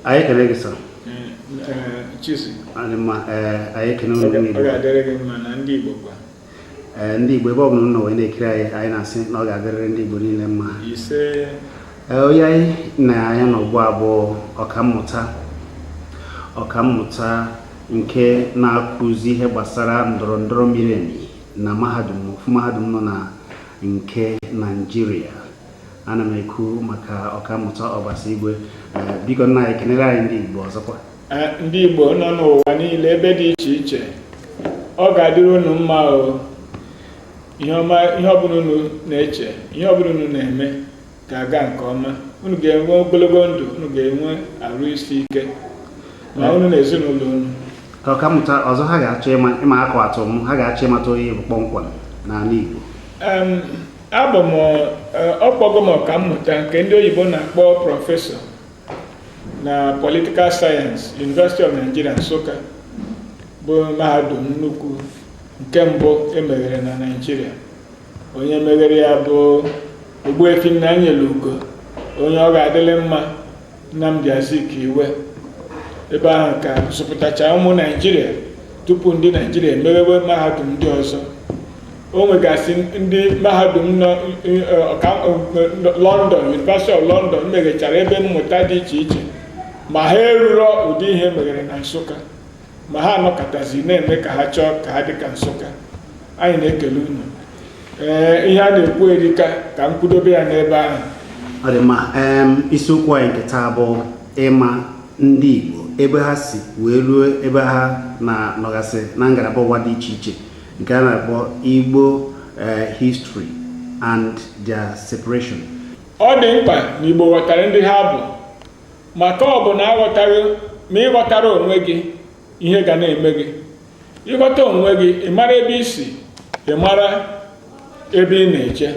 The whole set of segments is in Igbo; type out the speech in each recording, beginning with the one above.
anyị ekele gị sọ adị mma anyị ekele unu ndị Igbo ee ndị Igbo ebe ọ bụla nọ wee na-ekiri anyị anyị na-asị na ọ ga-adịrịrị ndị Igbo niile mma onye anyị na ya nọ ugbu a bụ ọkammụta ọkammụta nke na-akụzi ihe gbasara ndọrọ ndọrọ miri emi na mahadum ofu mahadum nọ na nke Naijiria ana m ekwu maka ọkammụta ọbasi igwe eh, biko nna anyị kenere anyị ndị igbo ọzọkwa eh, ndị igbo nọ n'ụwa niile ebe dị iche iche ọ ga-adịrị unu mma o ihe ọma ihe ọbụla unu na-eche ihe ọbụla unu na-eme ga-aga nke ọma unu ga-enwe ogologo ndụ unu ga-enwe arụ isi ike ma eh. unu na ezinụlọ unu ka ọkammụta ọzọ ha ga-achọ ịma akụ atụ m ha ga-achọ ịmata onye ị bụ kpọmkwem n'ala igbo Abụ m ọ kpọgo m ọkammụta nke ndị oyibo na-akpọ professor na political science University of Nigeria Nsụka bụ mahadum nnukwu nke mbụ e meghere na Naịjirịa onye meghere ya bụ Ogbuefi Nnanyelugo onye ọ ga-adịlị mma Nnamdi Azikiwe ebe ahụ ka a zụpụtacha ụmụ Naijiria tupu ndị Naijiria emeghewe mahadum ndị ọzọ o nwegasị ndị mahadum nọ eh, eh, London University of London meghechara ebe mmụta dị iche iche ma ha eruro ụdị ihe e meghere na Nsụka ma ha anọkatazi na-eme ka ha chọọ ka ha dị ka nsụka anyị na-ekele unu ee ihe a na-ekwu erika ka m kwudobe ya n'ebe ahụ ọ dị mma em, isiokwu anyị nke taa bụ ịma ndị igbo ebe ha si wee ruo ebe ha na-anọgasị na ngalaba ụwa dị iche iche nke a na-akpọ igbo eh, history and their separation ọ dị mkpa na igbo ghọtara ndị ha bụ maka ọ bụ na aghọtaghị ma ị ghọtarọ onwe gị ihe ga na-eme gị ị ghọta onwe gị ị mara ebe i si ị mara ebe ị na-eje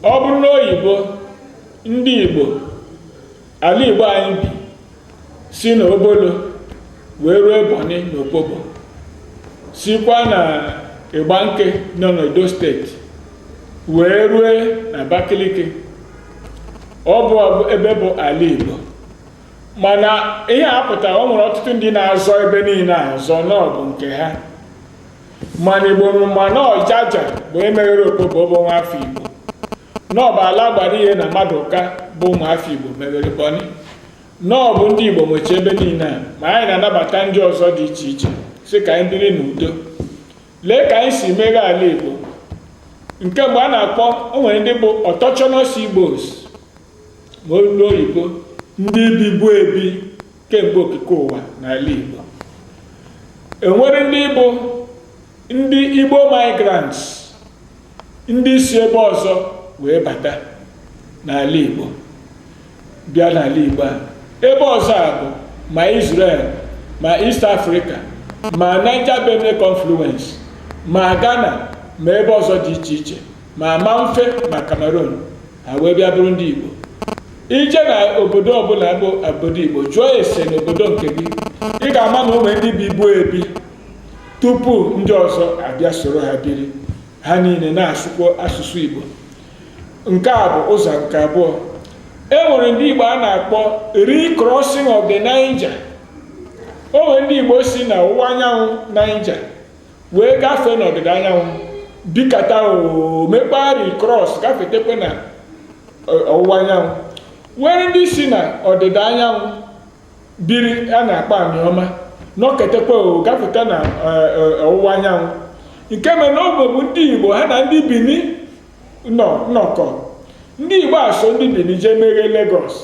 ọ bụrụ na oyibo ndị igbo ala igbo anyị bi si na obolo wee ruo bọni na opobo sikwa na igbanke nọ n'edo steeti wee rue na abakaliki ọ bụ ebe bụ ala Igbo mana ihe a pụtara o nwere ọtụtụ ndị na-azọ ebe niile azọ na ọ bụ nke ha mana Igbo ma na ọ Jaja bụ emeghere Opobo bụ nwafọ Igbo na ọ bụ Alagbariye na Maduka bụ ụmụafọ Igbo meghere bọni na ọ bụ ndị Igbo nwecha ebe niile a ma anyị na-anabata ndị ọzọ dị iche iche sị ka anyị biri n'udo lee ka anyị si meghe ala Igbo nke mbụ a na-akpọ o nwere ndị bụ autochthonous Igbos ma olu oyibo ndị bibu ebi kemgbe okike ụwa n'ala Igbo e nwere ndị bụ ndị Igbo migrants ndị si ebe ọzọ wee bata n'ala Igbo bịa n'ala Igbo a ebe ọzọ a bụ ma Israel ma East Africa ma Niger Benue confluence ma Ghana ma ebe ọzọ dị iche iche ma Mamfe ma Cameroon ha wee bịa bụrụ ndị Igbo i je na obodo ọbụla bụ obodo Igbo jụọ ese n'obodo nke gị ị ga-ama na o nwe ndị bibu ebi tupu ndị ọzọ abịa soro ha biri ha niile na-asụkwa asụsụ Igbo nke a bụ ụzọ nke abụọ e nwere ndị Igbo a na-akpọ recrossing of the Niger o nwere ndị Igbo si na ọwụwa anyanwụ Niger wee gafee n'ọdịda anyanwụ bikata o mekpa recross gafetekwe na ọwụwa anyanwụ o nwere ndị si na ọdịda anyanwụ biri a na-akpọ Anioma nọketekwa o gafeta na eh, eh, ọwụwa anyanwụ nke mere na oge mbụ ndị igbo ha na ndị bini nọ nnọkọ ndị igbo a so ndị bini jee meghe Lagos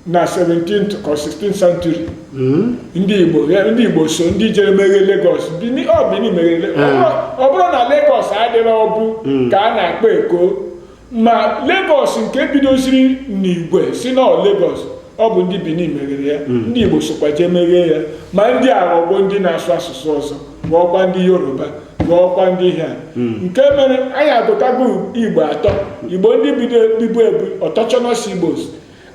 na 17th ka 16th century hmm? ndị igbo ndị igbo so ndị jere meghe Lagos bini ọ bini meghere Lagos ọ bụrọ na Lagos adịrọbu hmm. nke a na-akpọ eko ma Lagos nke bidoziri na-ekwu sị na ọ Lagos ọ bụ ndị Bini meghere ya hmm. ndị Igbo sokwa jee meghee ya ma ndị a aghọgwo ndị na-asụ asụsụ ọzọ ghọọkwa ndị Yoruba ghọọkwa ndị ihe a hmm. nke mere anyị agụtago Igbo atọ Igbo ndị bibu ebi autochthonous Igbos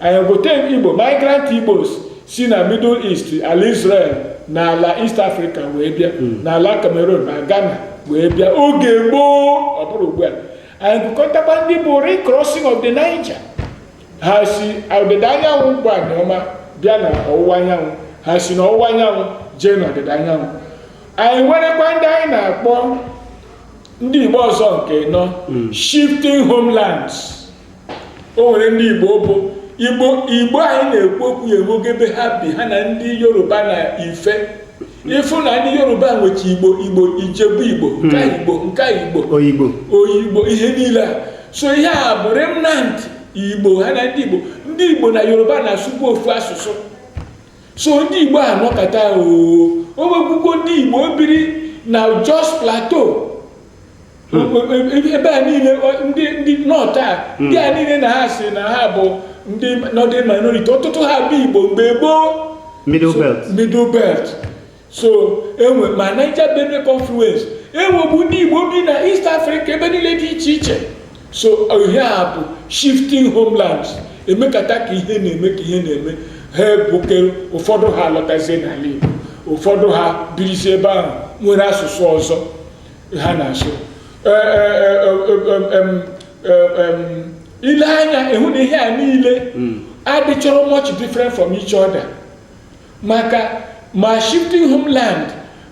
anyị gụta Igbo migrant Igbos si na Middle East ala Israel na ala East Africa wee bịa hmm. na ala Cameroon na Ghana wee bịa oge gboo ọ bụrọ ugbu a anyị gụkọtakwa ndị bụ recrossing of the Niger ha si ọdịda anyanwụ bụ Anioma bịa na ọwụwa anyanwụ ha si na ọwụwa anyanwụ jee na ọdịda anyanwụ anyị nwerekwa ndị anyị na-akpọ ndị Igbo ụzọ nke anọ hmm. shifting homelands o nwere ndị Igbo bụ Igbo Igbo anyị na-ekwu okwu ya enwego ebe ha bi ha na ndị Yoruba na Ife ị fụ na ndị yoruba nwecha igbo igbo ijebu igbo hmm. nka igbo nka igbo oyigbo oyigbo ihe niile a so ihe a bụ remnant igbo ha na ndị igbo ndị igbo na yoruba na-asụbu ofu asụsụ so ndị igbo a nọkata oo o nwekwukwa ndị igbo biri na jos plateau ebe a niile ndị north a ndị a niile na ha sị na ha bụ ndị northern minority ọtụtụ ha bụ igbo mgbe gboo middle belt middle belt so enwe ma Niger Benue confluence enwebu ndị igbo bi na East Africa ebe niile dị iche iche so ihe a bụ shifting homelands emekata ka ihe na-eme ka ihe na-eme ha ebukere ụfọdụ ha alọtazie n'ala Igbo ụfọdụ ha birizi ebe ahụ nwere asụsụ ọzọ ha na-asụ ile anya ịhụ na ihe a niile hmm. adịchọrọ much different from each other maka ma shifting homeland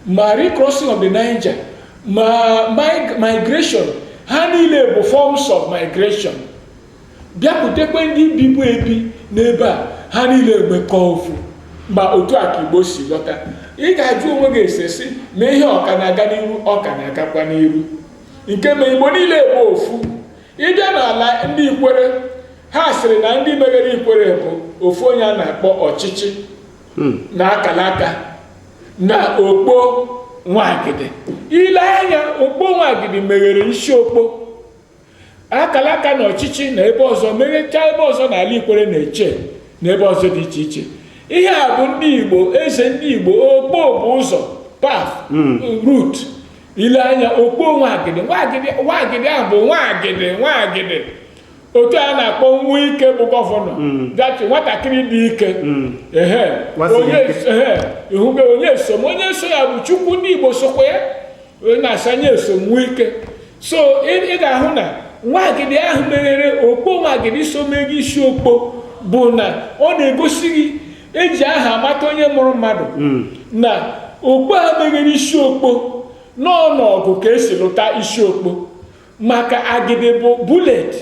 ma recrossing of the Niger ma migration ha niile bụ forms of migration bịakwutekwe ndị bibu ebi n'ebe a ha niile emekọọ ofu mba otu a ka igbo si lọta ị ga-ajụ onwe gị ese sị ma ihe ọ ka na-aga n'iru ọ ka na-agakwa n'iru nke ma igbo niile bụ ofu ịbịa n'ala ndị ikwere ha sịrị na ndị meghere ikwere bụ ofu onye a na-akpọ ochichi na akalaka na okpo nwagidi ile anya okpo nwagidi meghere isiokpo akalaka na ochichi na ebe ọzọ meghechaa ebe ọzọ na ala ikwere na etche na ebe ọzọ dị iche iche ihe a bụ ndị igbo eze ndị igbo okpo bụ ụzọ path hmm. route ile anya okpo nwagidi nwagidi nwagidi ahụ bụ nwagidi nwagidi otu a na-akpọ nwike bụ gọvanọ hmm. that is nwatakịrị dị ike hmm. nyesom onye so ya bụ chukwu ndị igbo sokwa ya onye na-aza nyesom nwike so ị ga-ahụ na nwagidi ahụ meghere okpo nwagidi so meghe isiokpo bụ na ọ na-egosi gị eji aha amata onye mụrụ mmadụ hmm. na okpo a meghere isiokpo na ọọ n'ọgụ ka esi lụta isiokpo maka agidi bụ bullet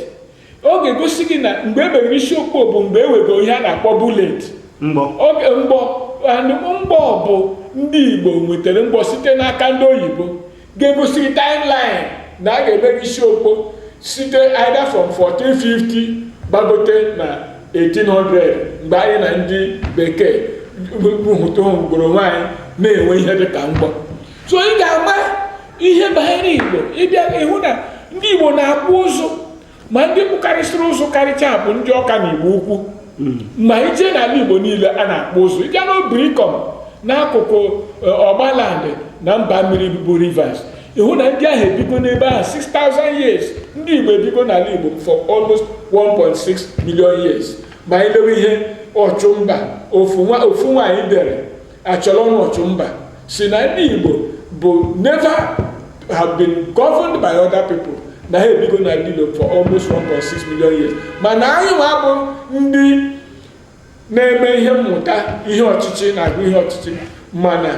ọ ga-egosi gị na mgbe e meghere isiokpo bụ mgbe e nwego ihe a na-akpọ bullet mgbọ oge mgbọ and mgbọ bụ ndị igbo nwetara mgbọ site n'aka ndị oyibo ga-egosi gị timeline na a ga-emeghe isiokpo site either from 1450 gbagote na 1800 mgbe anyị na ndị bekee hụtụgoro onwe anyị na-enwe ihe dịka mgbọ so ị ga-ama ihe banyere igbo ịbịa ịhụ na ndị igbo na-akpụ ụzụ ma ndị kpụkarịsịrị ụzụ karịcha bụ ndị ọka na igbo ukwu hmm. ma ije n'ala igbo niile a na-akpụ ụzụ ịbịa n'obrikom n'akụkụ e, ogbaland na mba mmiri bụ rivers ịhụ na ndị ahụ ebigo n'ebe ahụ 6000 years ndị igbo ebigo n'ala igbo for almost 1.6 million years ma anyị lewe ihe ọchụmba ofu nwaanyị dere Acholonu Olumba sị na ndị Igbo bụ never have been governed by other people na ha ebigo n'ala Igbo for almost 1.6 million years mana anyị nwa bụ ndị na-eme ihe mmụta ihe ọchịchị na-agụ ihe ọchịchị mana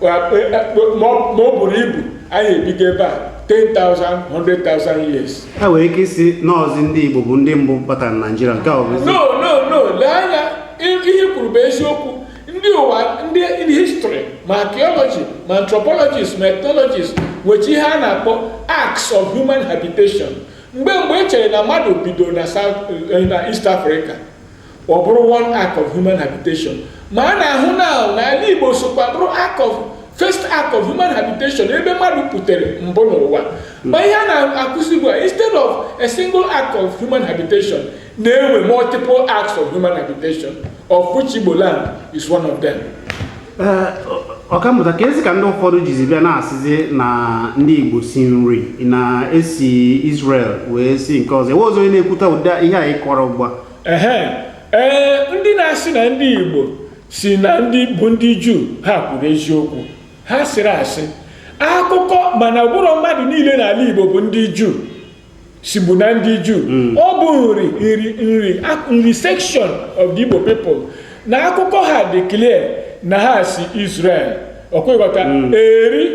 e, e, e, ma o buru ibu anyị ebigo ebe a 10,000 years. ha nwere ike ịsị na ọ bụzi ndị Igbo bụ ndị mbụ batara na Naịjirịa nke ọ bụ no no no lee anya ihe i kwuru bụ eziokwu ndị ụwa ndị history ma archaeology ma anthropologists ma ethnologists nwecha ihe a na-akpọ acts of human habitation mgbe mgbe e chere na mmadụ bido na south eh, na east africa ọ bụrụ one act of human habitation ma a na-ahụ na na ala Igbo sokwa bụrụ act of first act of human habitation ebe mmadụ pụtere mbụ n'ụwa ma ihe a na-akụzi bụ instead of a single act of human habitation na-enwe multiple acts of human habitation of which Igbo land is one of them. ọkammụta keezi ka ndị ụfọdụ jizi bịa na-asịzi na ndị igbo si Nri na e si Israel wee si nke ọzọ ewe ọzọ onye na-ekwuta ụdị ihe anyị kọrọ ugbu a ee ndị na-asị na ndị igbo si na ndị bụ ndị juu ha kwuru eziokwu ha asịrọ asị akụkọ mana ọ bụrọ mmadụ niile n'ala igbo bụ ndị juu si bụ na ndị Juu hmm. ọ bụ nri nri nri nri section of the Igbo people na akụkọ ha dị clear na ha si Israel ọ kwa ị ghọta hmm. eri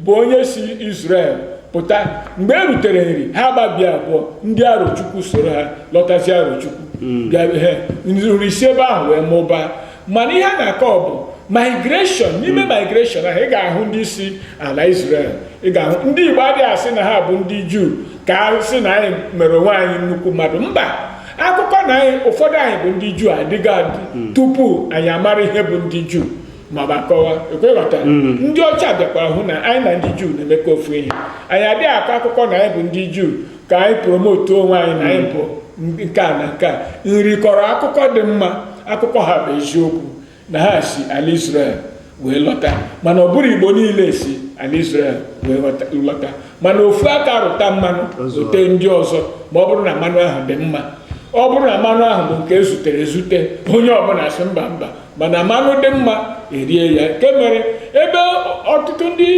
bụ onye si Israel pụta mgbe e rutere nri ha gbabie abụọ ndị arochukwu soro ha lọtazi arochukwu hmm. bịa nri si ebe ahụ wee mụbaa mana ihe a na-akọ bụ migration n'ime hmm. migration ahụ ị ga-ahụ ndị si ala Israel ị ga-ahụ ndị Igbo adịghị asị na ha bụ ndị Juu ka a sị na anyị mere onwe anyị nnukwu mmadụ mba akụkọ na anyị ụfọdụ anyị bụ ndị Juu adịgo adị hmm. tupu anyị amara ihe bụ ndị Juu ma ọ bụ akọwa ọ kwa ị ghọta hmm. ndị ọcha bịakwara hụ na anyị na ndị Juu na-emekọ ofu ihe anyị adịghị akọ akụkọ na anyị bụ ndị Juu ka anyị promote onwe anyị na anyị bụ nke a na nke a nri kọrọ akụkọ dị mma akụkọ ha bụ eziokwu na ha si ala Israel wee lọta mana ọ bụrọ Igbo niile si ala Israel wee lọta mana ofu aka rụta mmanụ zute ndị ọzọ ma ọ bụrụ na mmanụ ahụ dị mma ọ bụrụ na mmanụ ahụ bụ nke e zutere ezute onye ọbụla sị mba mba mana mmanụ dị mma e rie ya nke mere ebe ọtụtụ ndị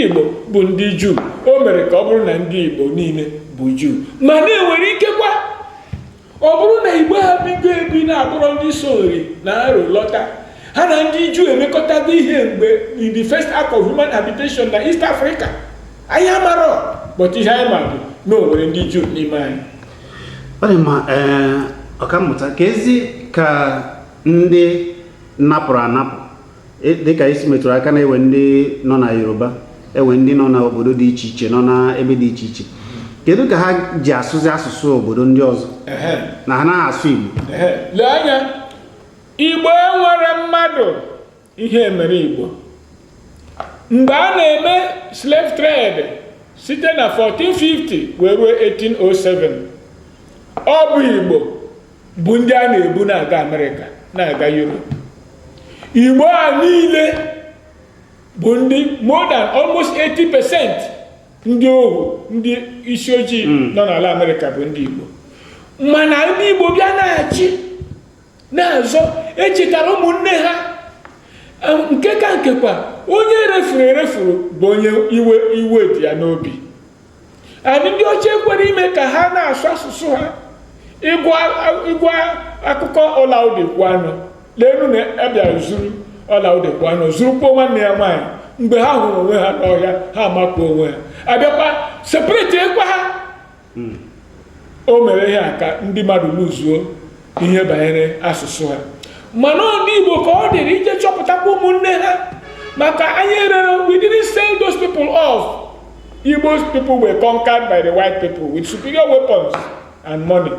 Igbo bụ ndị Juu o mere ka ọ bụrụ na ndị Igbo niile bụ Juu mana e nwere ikekwa ọ bụrụ na Igbo a bigo ebi na-abụrọ ndị so Nri na Aro lọta ha na ndị Juu emekọtago ihe mgbe in the first act of human habitation na East Africa anyị amarọ but ihe anyị ma bụ na o nwere ndị Juu n'ime anyị ọ dị mma ee ọkammụta ka ezi ka ndị napụrụ anapụ e, dịka i si metụrụ aka na enwe ndị nọ na yoruba enwe ndị nọ na obodo dị iche iche nọ na ebe dị iche iche kedu ka ha ji asụzi asụsụ obodo ndị ọzọ na ha anaghị asụ igbo lee anya igbo enwere mmadụ ihe e mere igbo mgbe a na-eme slave trade site na 1450 wee ruo 1807 ọ bụ igbo bụ ndị a na-ebu na-aga amerịka na-aga europe igbo a niile bụ ndị more than almost 80 percent ndị ohu ndị isi ojii hmm. nọ n'ala amerịka bụ ndị igbo mana ndị igbo bịa na-achị na-azọ echetara ụmụnne ha nke ka nke kwa onye e refuru erefuru bụ onye iwe dị ya n'obi na ndị ọcha ekwere ime ka ha na-asụ asụsụ ha ị gụa akụkọ olaudah equiano leenu na abịara zuru olaudah equiano zurukwa nwanne ya nwaanyị mgbe ha hụrụ onwe ha n'ọhịa ha amakụọ onwe ha abịakwa separetiekwa ha hmm. o mere ihe a ka ndị mmadụ lụzuo ihe banyere asụsụ ha mana ndị Igbo ka ọ dịrị ije chọpụtakwa ụmụnne ha maka anyị erere we didn't sell those people off Igbo people were conquered by the white people with superior weapons and money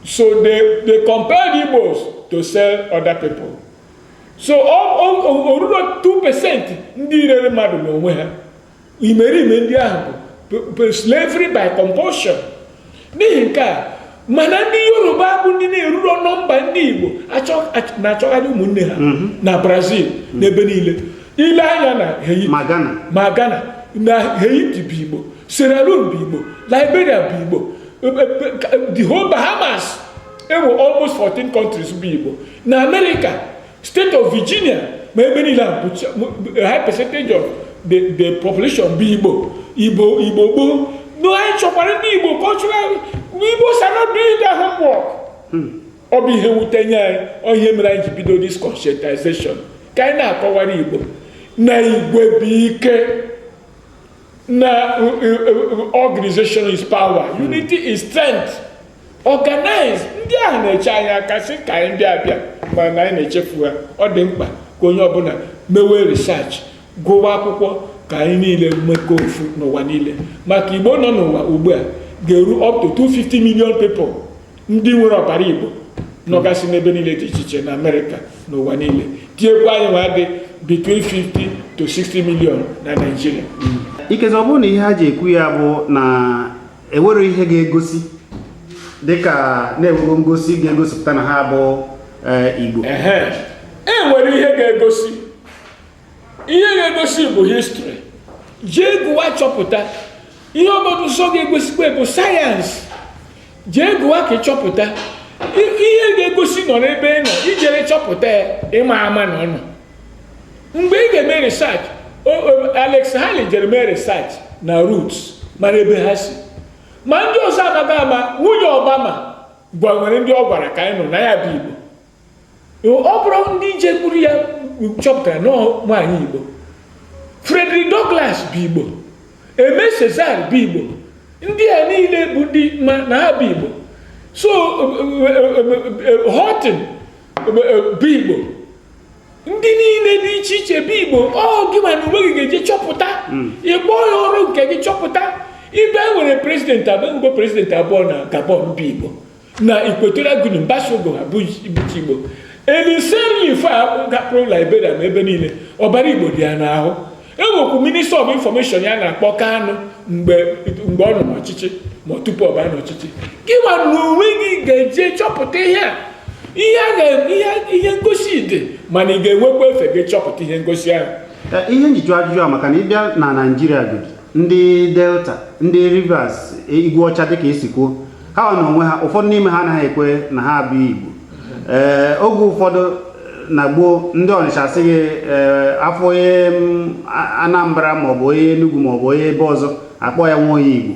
so they they compelled Igbos to sell other people so o ruro 2 percent ndị rere mmadụ n'onwe ha imerime ndị ahụ bụ slavery by compulsion n'ihi nke a mana ndị yoruba bụ ndị na-eruro nọmba ndị igbo na-achọgharị ụmụnne ha mhm. na brazil mhm. n'ebe niile ile anya na ma ghana na haiti bụ igbo sierra leone bụ igbo liberia bụ igbo the whole bahamas enwe almost 14 countries bụ igbo na amerịka State of Virginia ma ebe niile a high percentage of the the population bụ Igbo Igbo gboo no anyị chọkwara ndị Igbo culturally Igbos are not doing their homework ọ bụ ihe wute nye anyị ọ ihe mere anyị ji bido this conscientization ka anyị na-akọwara Igbo na igwe bụ ike na organization is power hmm. unity is strength organize ndị ahụ na-eche anyị aka sị ka anyị bịa abịa mana anyị na-echefu ha ọ dị mkpa ka onye ọbụla mewe research gụwa akwụkwọ ka anyị niile mekọọ ofu n'ụwa niile maka igbo nọ n'ụwa ugbu a ga-eru up to 250 million people ndị nwere ọbara igbo nọgasị n'ebe niile dị iche iche na amerịka na ụwa niile tinyekwa anyị nwa dị between 50 to 60 million na naijiria ikezi ọ bụrụ na ihe ha ji ekwu ya bụ na enwere ihe ga-egosi dịka na-enwego ngosi ga-egosipụta na ha bụ eh, igbo ehe e nwere ihe ga-egosi ihe ga-egosi bụ histrị jee gụwa chọpụta ihe ọbụla nsọ ga-egosikwa bụ sayensị jee gụwa ka ị chọpụta ihe ga-egosi nọ n'ebe ị nọ ijere chọpụta ya ịma ama na ọnụ mgbe ị ga-eme research Alex Haley jere mee research na roots mara ebe ha si ma ndị ọzọ anaghị ama nwunye Obama gwa nwere ndị ọ gwara ka anyị nụ na ya bụ Igbo ọ bụrụ ndị jekwuru ya chọpụtara na ọ nwaanyị igbo Frederick Douglass bụ igbo Aimé Césaire bụ igbo ndị a niile bụ ndị ma na ha bụ igbo so Horton bụ igbo ndị niile dị iche iche bụ igbo ọ gị nwa na onwe gị ga-eje chọpụta ịkpọ ya ọrụ nke gị chọpụta ibe e nwere prezidenti abụọ prezidenti abụọ na Gabon bụ igbo na Equatorial Guinea mbasogo ha bụ Igbo eliseri ife a gapụrụ Liberia ma ebe niile ọbara Igbo dị ya n'ahụ enwekwu minista of infọmeshọn ya na-akpọ Kanu mgbe ọ nọ n'ọchịchị ma tupu ọ baa n'ọchịchị gị nwa na onwe gị ga-eje chọpụta ihe a ihe ngosi dị mana ị ga-enwekwa efe gaa chọpụta ihe ngosi ahụ ihe m ji jụọ ajụjụ a maka na ị bịa na naijiria godi ndị delta ndị rivers igwe ọcha dịka esi kwuo ha nwa na onwe ha ụfọdụ n'ime ha anaghị ekwe na ha abụ igbo ee oge ụfọdụ na gboo ndị ọnịcha sị gị afụ onye anambra maọbụ onye enugwu maọbụ onye ebe ọzọ akpọ ya nwa onye igbo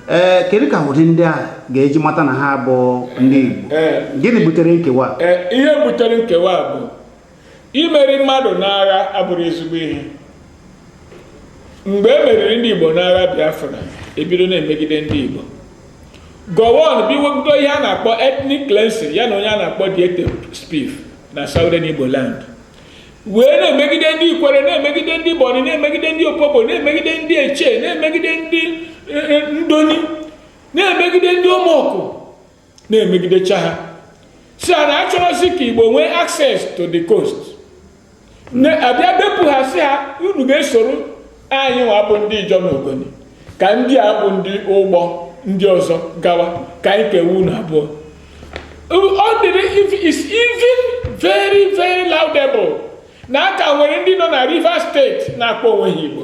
ee kedu ka ụdị ndị a ga-eji mata na ha bụ ndị igbo gịnị butere nkewa ihe butere nkewa bụ imeri mmadụ n'agha abụrọ ezigbo ihe mgbe e meriri ndị Igbo n'agha Biafra ebido na-emegide ndị Igbo gowon bido ihe a na-akpọ ethnic cleansing ya na onye a na-akpọ diete spiff na southern Igbo land wee na-emegide ndị ikwere na-emegide ndị bọni na-emegide ndị opobo na-emegide ndị eche na-emegide ndị eh, eh, ndoni na-emegide ndị ọmọkụ na-emegidecha ha sị a na achọrọzi ka igbo nwee access to the coast abịa bepụ ha sị ha unu ga-esoro anyị nwa bụ ndị ijọ na ogoni ka ndị a bụ ndị ugbo ndị ọzọ gawa ka anyị kewe unu abụọ ọ dịrị it's even very very laudable na a ka nwere ndị nọ na Rivers steeti na-akpọ onwe ha igbo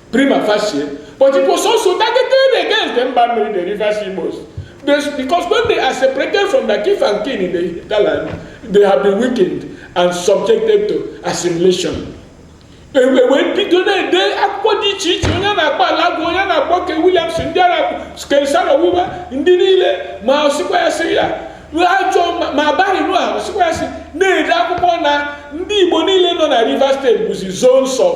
prima facie but it was also targeted against the mba mmiri the rivers igbos because when they are separated from the kith and kin in the hinterland they have been weakened and subjected to assimilation ewee bido na-ede akwụkwọ dị iche iche onye na-akpọ Alagoa onye na-akpọ Kay Williamson ndị ara Ken Saro-Wiwa ndị niile ma osikwa ya sị ya ajọ ma abaghị nụ ahụ sikwa ya sị na-ede akwụkwọ na ndị Igbo niile nọ na Rivers steeti bụzi zones of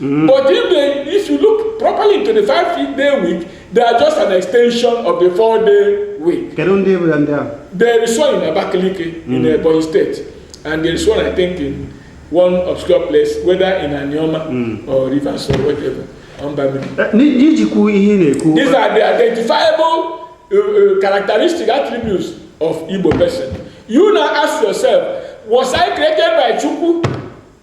Mm. But if they, if you look properly into the five day week, they are just an extension of the four day week. Kedu ndị bụ ndị ahụ? There is one in Abakaliki mm. in Ebonyi State and there is one I think in one obscure place whether in Anioma mm. or Rivers or whatever. Eh, n'ijikwu ihe na-ekwu. These are the identifiable uh, uh, characteristic attributes of Igbo person. You now ask yourself, was I created by Chukwu?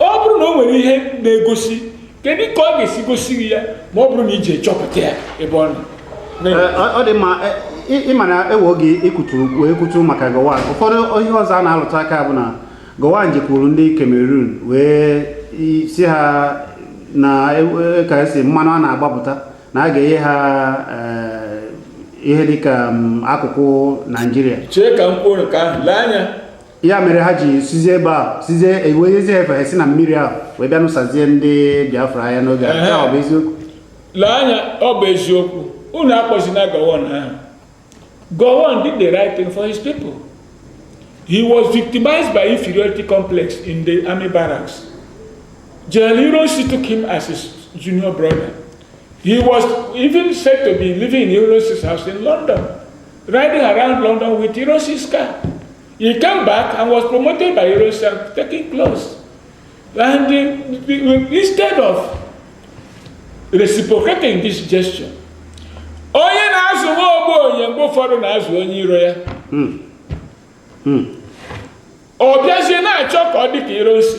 ọ bụrụ na o nwere ihe na-egosi kedu ka ọ ga-esi gosi gị ya ma ọ bụrụ na iji chọpụta ya ebe ọ nọ ọ dị mma ịma na ewe oge ikwutu wee kwutu maka gowon ụfọdụ ihe ọzọ a na-alụtụ aka bụ na gowon jekwuru ndị cameroon wee sị ha na e, e, ka esi mmanụ a na-agbapụta na a ga-enye ha eh, ihe dịka mm, akụkụ naijiria chee ka m kwuo nke ahụ lee anya ya mere ha ji sizie ebe a sizie enwezi ha efe si na mmiri ahụ wee bịa nụsazie ndị biafra aya n'oge a ọ bụ eziokwu lee anya ọ bụ eziokwu unu akpọzina gowon ahụ gowon did the right thing for his people he was victimized by inferiority complex in the army barracks General Ironsi took him as his junior brother he was even said to be living in Ironsi's house in London Riding around London with Ironsi's car. He came back and was promoted by Ironsi and taken close. And the, the, instead of reciprocating this gesture, onye na-azụ nwa ogbenye mgbe ụfọdụ na-azụ onye iro ya hmm. Hmm. ọ bịazie na-achọ ka ọ dị ka Ironsi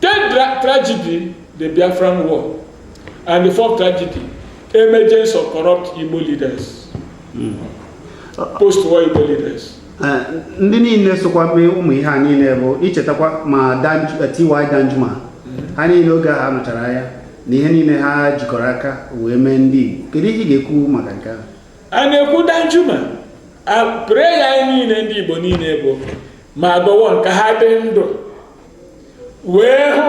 Third tra- tragedy, the Biafran War. And the fourth tragedy, emergence of corrupt Igbo leaders. Post-war Igbo leaders. Eh, ndị niile sokwa mee ụmụ ihe a niile bụ ichetakwa ma Danj- eh, ty danjuma ha niile oge ha nụchara aya na ihe niile ha jikọrọ aka wee mee ndị igbo kedu ihe ị ga-ekwu maka nke ahụ a na-ekwu danjuma a- prayer anyị niile ndị igbo niile bụ ma Gowon ka ha dị ndụ wee hụ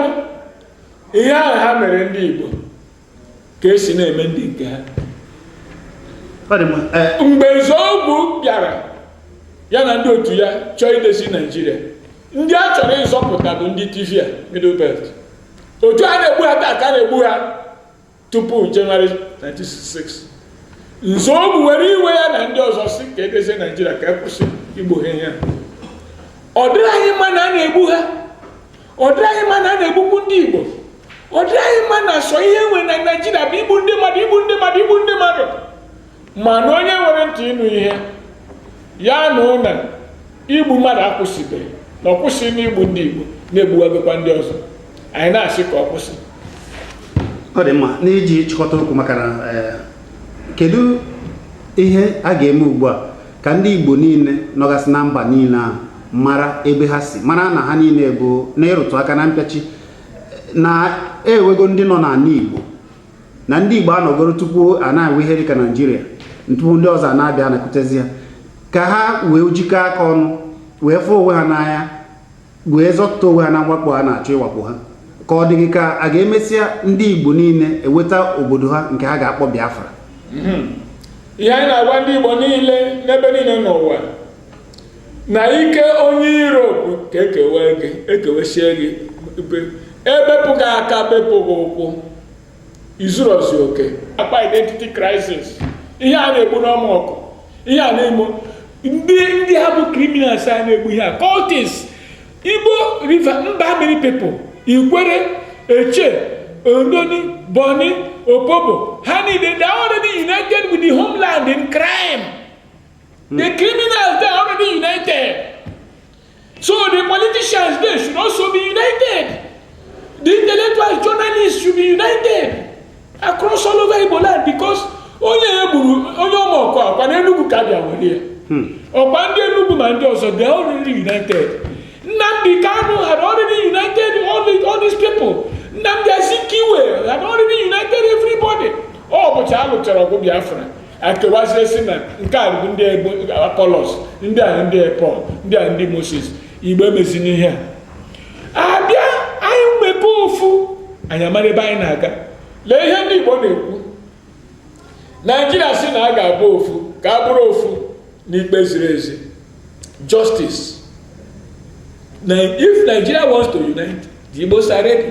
ihe ahụ ha mere ndị Igbo ka esi na-eme ndị nke ha e, mgbe Nzeogwu bịara ya na ndị otu ya chọọ idezi Naijiria ndị a chọrọ ịzọpụta bụ ndị Tiv Middle Belt otu a na-egbu ha taa ka a na-egbu ha tupu Jenụwarị 1966 Nzeogwu were iwe ya na ndị ọzọ sị ka edezie Naijiria ka akwụsị igbu ha ihe ọ dịrị anyị mma na a na-egbu ha ọ dịrị anyị mma na a na-egbukwu ndị Igbo ọ dịrị anyị mma na sọ ihe e nwere na Naijiria bụ igbu ndị mmadụ igbu ndị mmadụ igbu ndị mmadụ ma na onye nwere ntị ịnụ ihe ya nụ na igbu mmadụ akwụsịbeghị na ọ kwụsị n'igbu ndị Igbo na egbuwagokwa ndị ọzọ anyị na-asị ka ọ kwụsị ọ dị mma n'iji chịkọta okwu maka na eh, kedu ihe a ga-eme ugbu a ka ndị Igbo niile nọgasị na mba niile ahụ mara ebe ha si mara na ha niile bụ na ịrụtụ aka na mpịachi na enwego ndị nọ n'ala Igbo na ndị Igbo anọgoro tupu a na-enwe ihe dịka Naijiria tupu ndị ọzọ ana-abịa anakwutezi ha ka ha wee jikọ aka ọnụ wee fụọ onwe ha n'anya wee zọpụta onwe ha na mwakpo a na-achọ ịwakpo ha ka ọ dị gị ka a ga-emesịa ndị Igbo niile eweta obodo ha nke ha ga-akpọ Biafra hmm. ihe anyị na-agwa ndị Igbo niile n'ebe niile n'ụwa na ike onye iro bụ ka ekewe gị ekewesie gị ebepụ gị aka bepụ gị ụkwụ i zurozi oke akpa identity crisis ihe a na-egbu n'Ọmọkụ ihe a na-eme ndị ndị a bụ criminals na-egbu ihe a cultists igbo river mba mmiri people Ikwerre Etche Ndoni Bonny Opobo ha niile they are already united with the homeland in crime Hmm. The criminals they are already united. So the politicians they should also be united. The intellectual journalists should be united across all over Igbo land because onye egburu onye Ọmọkụ ọkwa na Enugu ka bịa were ya. Hmm. Ọkwa ndị Enugu ma ndị ọzọ they are already united. Nnamdi Kanu had already united all, the, all these people. Nnamdi Azikiwe had already united everybody. Ụbọchị a lụchara ọgụ Biafra. akewazie sị na nke a bụ ndị Apollos ndị a ndị Paul ndị a ndị moses igbo emezina ihe a bịa anyị mebe ofu anyị amara ebe anyị na-aga lee ihe ndị igbo na-ekwu naijiria sị na a ga-abụ ofu ka a bụrụ ofu n'ikpe ziri ezi justice now if nigeria wants to unite the igbos are ready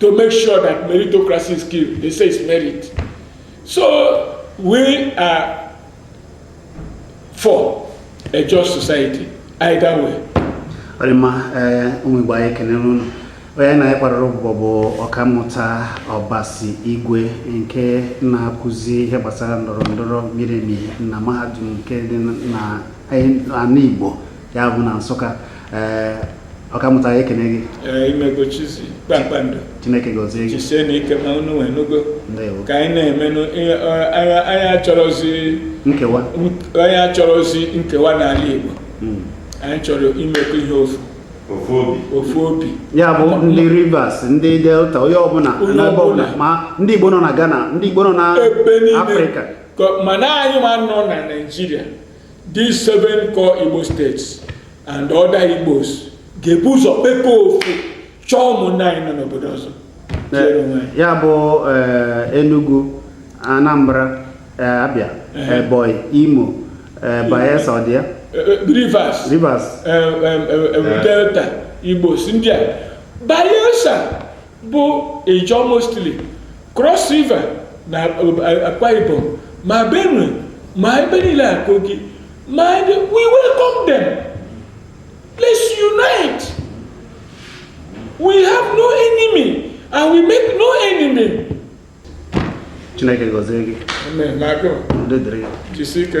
to make sure that meritocracy is killed. They say it's merit. So we are for a just society, either way. ọ dị mma eh, ụmụ igbo anyị ekenere unu onye anyị na ya kparịrị ụbụbọ bụ ọkammụta ọbasi igwe nke na-akụzi ihe gbasara ndọrọ ndọrọ miri emi na mahadum nke dị na ala igbo ya bụ na nsụka ee eh, ọkammụta anyị ekene gị eh, imegochizi kpakpando chineke gọzie gị jisienụ ike ma unu wee nụgo ka anyị na-emenụ anyị achọrọzi nkewa anyị achọrọzi nkewa n'ala igbo hmm. anyị chọrọ imekọ ihe ofu ofu obi ya bụ ndị rivers ndị delta onye ọbụla n'ebe ọbụla ma ndị igbo nọ na ghana ndị igbo nọ na afrịka mana anyịnwa nọ na naijiria These seven core Igbo states and other Igbos ga-ebu ụzọ kpekọọ ofu chọọ ụmụnne anyị nọ n'obodo ọzọ ya bụ eh, Enugu Anambra eh, Abia eh. Ebonyi Imo Bayelsa ọ dị ya Rivers Rivers Delta Igbos ndị a Bayelsa bụ Ijaw mostly Cross River na Akwa Ibom ma Benue ma ebe niile a Kogi ma ebe we welcome them let's unite we have no enemy and we make no enemy Chineke gọzie gị Amen. Na agụ. Udo dịrị gị. Jisi ike.